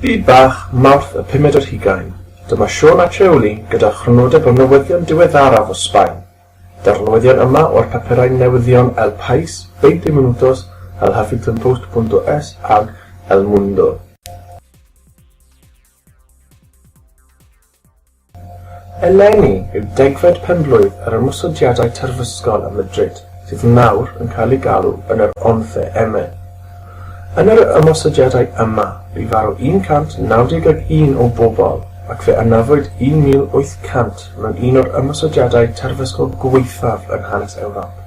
Byd Bach, Mawrth y pumed ar hugain. Dyma Siôn a Treuli gyda chrynodeb o newyddion diweddaraf o Sbaen. Daw'r newyddion yma o'r papurau newyddion El País, Veinte Minutos, El Huffingtonpost punto es ag El Mundo. Eleni yw degfed penblwydd yr ymosodiadau terfysgol ym Madrid, sydd nawr yn cael ei galw yn yr Once M. Yn yr ymosodiadau yma bu farw 191 o bobl ac fe anafwyd 1,800 mewn un o'r ymosodiadau terfysgol gwaethaf yn hanes Ewrop.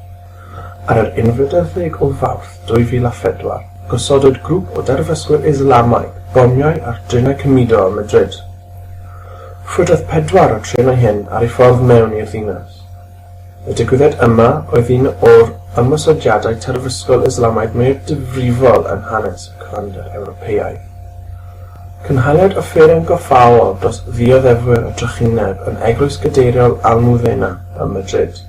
Ar yr unfed ar ddeg o Fawrth 2004, gosodwyd grŵp o derfysgwyr Islamaidd bomiau ar drenau cymudo ym Madrid. Rhwydodd pedwar o'r trenau hyn ar eu ffordd mewn i'r ddinas. Y digwyddiad yma oedd un o'r ymosodiadau terfysgol Islamaidd mwyaf difrifol yn hanes y cyfandir Ewropeaidd. Cynhaliwyd offeryn goffaol dros ddioddefwyr y drychineb yn Eglwys Gadeiriol Almudena ym Madrid.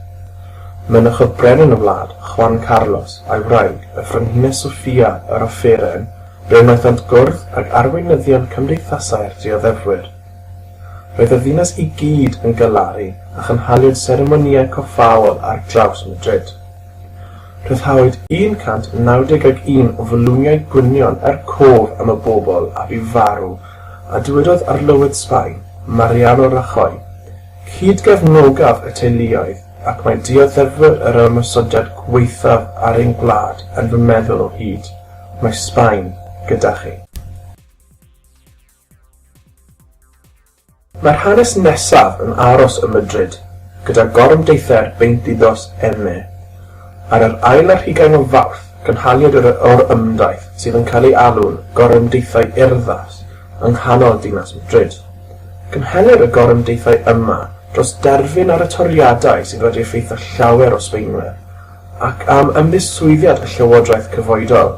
Mynychodd Brenin y wlad, Juan Carlos, a'i wraig, y Frenhines Sofia, yr offeryn, fe wnaethant gwrdd ag arweinyddion cymdeithasau'r dioddefwyr. Roedd y ddinas i gyd yn galaru a chynhaliwyd seremonïau coffaol ar draws Madrid. Rhyddhawyd 191 o fwlwmiau gwynion er cof am y bobl a fu farw, a dywedodd Arlywydd Sbaen, Mariano Rajoy, Cyd-gefnogaf y teuluoedd ac mae dioddefwyr yr ymosodiad gwaethaf ar ein gwlad yn fy meddwl o hyd. Mae Sbaen gyda chi. Mae'r hanes nesaf yn aros ym Mydrid, gyda gorymdeithiau'r Veintidós M. Ar yr ail ar hugain o Fawrth, cynhaliwyd yr orymdaith sydd yn cael ei alw'n Gorymdeithiau Urddas yng nghanol dinas Mdrid. Cynhelir y gorymdeithiau yma dros derfyn ar y toriadau sydd wedi effeithio llawer o Sbaenwyr, ac am ymddiswyddiad y llywodraeth cyfoedol.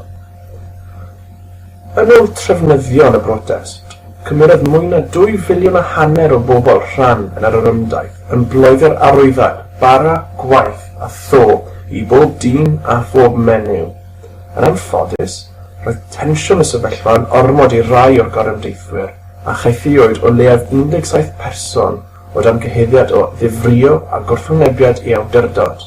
Yn ôl trefnyddion y brotest, cymerodd mwy na dwy filiwn a hanner o bobl rhan yn yr orymdaith yn bloeddo'r arwyddad bara gwaith a tho i bob dyn a phob menyw. Yn anffodus, roedd tensiwn y sefyllfa yn ormod i rai o'r gorymdeithwyr a chaethiwyd o leiaf 17 person o dan gyhuddiad o ddifrïo a gwrthwynebiad i awdurdod.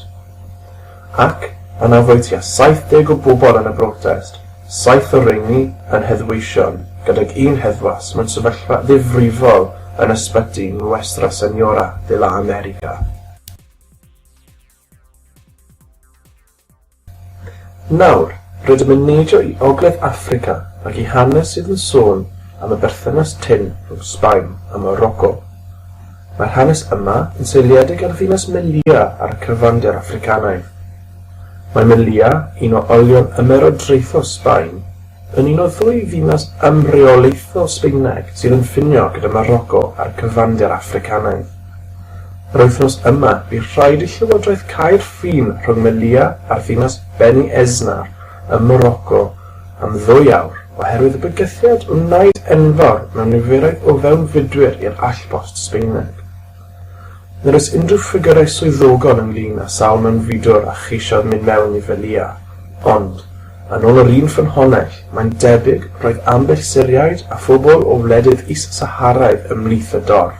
Ac, anafwyd tua 70 o bobl yn y brotest, saith o rheiny yn heddweision, gydag un heddwas mewn sefyllfa ddifrifol yn ysbyty Nuestra Señora de la América. Nawr, rydym yn neidio i Ogledd Affrica ac i hanes sydd yn sôn am y berthynas tynn rhwng Sbaen a Moroco. Mae'r hanes yma yn seiliedig ar ddinas Melilla ar y cyfandir Affricanaidd. Mae Melilla, un o olion ymerodraethol Sbaen, yn un o ddwy ddinas ymreolaethol Sbaeneg sydd yn ffinio gyda Moroco a'r cyfandir Affricanaidd. Yr wythnos yma bu rhaid i llywodraeth cau'r ffin rhwng Melilla a'r ddinas Beni Esnar ym Moroco am ddwy awr oherwydd y bygythiad wnaed enfawr mewn niferoedd o fewnfudwyr i'r allpost Sbaeneg. Nid oes unrhyw ffigyrau swyddogol ynglŷn â sawl mewnfudwr a cheisiodd mynd mewn i Velia, ond, yn ôl yr un ffynhonnell, mae'n debyg roedd ambell Syriaid a phobl o wledydd is-Saharaidd ymhlith y dorf.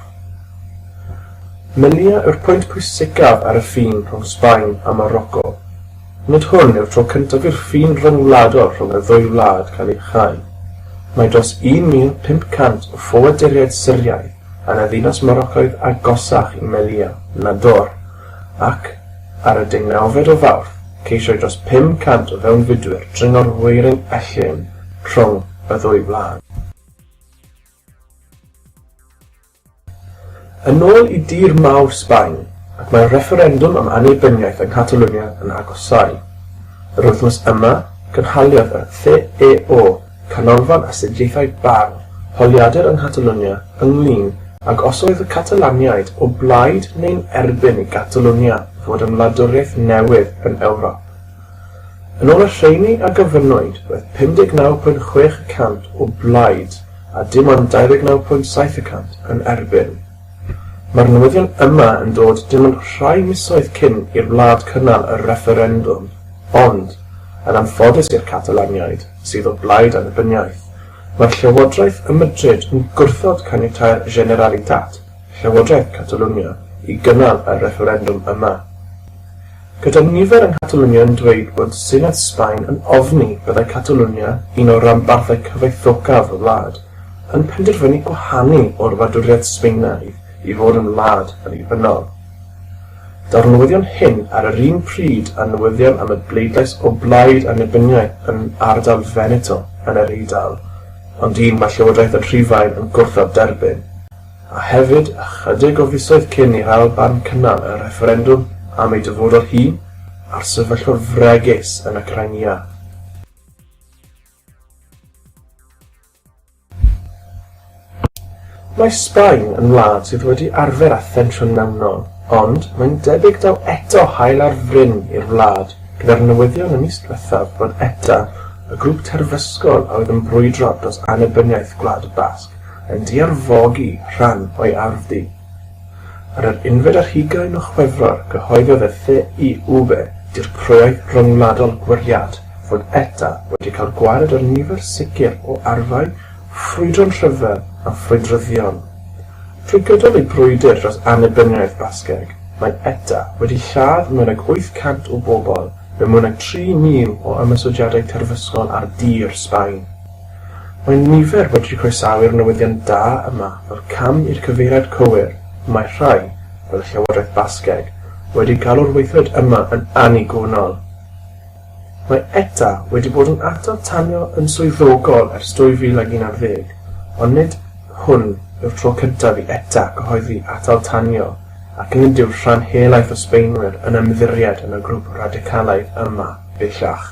Melia yw'r pwynt pwysicaf ar y ffin rhwng Sbaen a Moroco. Nid hwn yw'r tro cyntaf i'r ffin ryngwladol rhwng y ddwy wlad cael ei chau. Mae dros 1,500 o ffoaduriaid Syriaidd yn y ddinas Moroccaidd agosach i Melia, Nador, ac, ar y deunawfed o Fawrth, ceisiai dros 500 o fewnfudwyr dringo'r weirin ellyn rhwng y ddwy wlad. Yn ôl i dir mawr Sbaen, ac mae'r refferendwm am annibyniaeth yng Nghatalwnia yn agosáu. Yr wythnos yma, cynhaliodd y CEO, Canolfan Astudiaethau Barn, holiadur yng Nghatalwnia ynglŷn ag os oedd y Catalaniaid o blaid neu'n erbyn i Gatalwnia fod yn wladwriaeth newydd yn Ewrop. Yn ôl y rheini a gyflwynwyd, roedd 59.6 y cant o blaid a dim ond 29.7 y cant yn erbyn. Mae'r newyddion yma yn dod dim ond rhai misoedd cyn i'r wlad cynnal y refferendwm, ond, yn anffodus i'r Catalaniaid, sydd o blaid annibyniaeth, mae'r llywodraeth ym Madrid yn gwrthod caniatáu'r Generalitat, Llywodraeth Catalwnia, i gynnal y refferendwm yma. Gyda nifer yng Nghatalwnia yn dweud bod Senedd Sbaen yn ofni byddai Catalwnia, un o ranbarthau cyfoethocaf y wlad, yn penderfynu gwahanu o'r wladwriaeth Sbaenaidd i fod yn wlad annibynnol. Daw'r newyddion hyn ar yr un pryd â newyddion am y bleidlais o blaid annibyniaeth yn ardal Veneto yn yr Eidal, ond un mae Llywodraeth yn Rhufain yn gwrthod derbyn. a hefyd ychydig o fisoedd cyn i'r Alban cynnal y refferendwm am ei dyfodol hi a'r sefyllfa fregus yn y Crimea. Mae Sbaen yn wlad sydd wedi arfer â thensiwn mewnol, ond mae'n debyg daw eto haul ar fryn i'r wlad gyda'r newyddion y mis diwethaf bod ETA, y grŵp terfysgol a oedd yn brwydro dros annibyniaeth Gwlad y Basg, yn diarfogi rhan o'i ardd di. Ar yr unfed ar hugain o Chwefror cyhoeddodd y Lle i Ube, Dirprwyaeth Ryngwladol Gwariad, fod ETA wedi cael gwared ar nifer sicr o arfau ffrwydron rhyfel a ffrwydryddion. Trwy gydol ei brwydr dros annibyniaeth Basgeg, mae ETA wedi lladd mwy nag 800 o bobl mewn mwy nag 3,000 o ymosodiadau terfysgol ar dir Sbaen. Mae nifer wedi croesawu'r newyddion da yma fel cam i'r cyfeiriad cywir, mae rhai, fel y Llywodraeth Basgeg, wedi galw'r weithred yma yn annigonol. Mae ETA wedi bod yn atal tanio yn swyddogol ers 2011, ond nid hwn yw'r tro cyntaf i ETA gyhoeddi atal tanio ac nid yw'r rhan helaeth o Sbaenwyr yn ymddiried yn y grŵp radicalaidd yma bellach.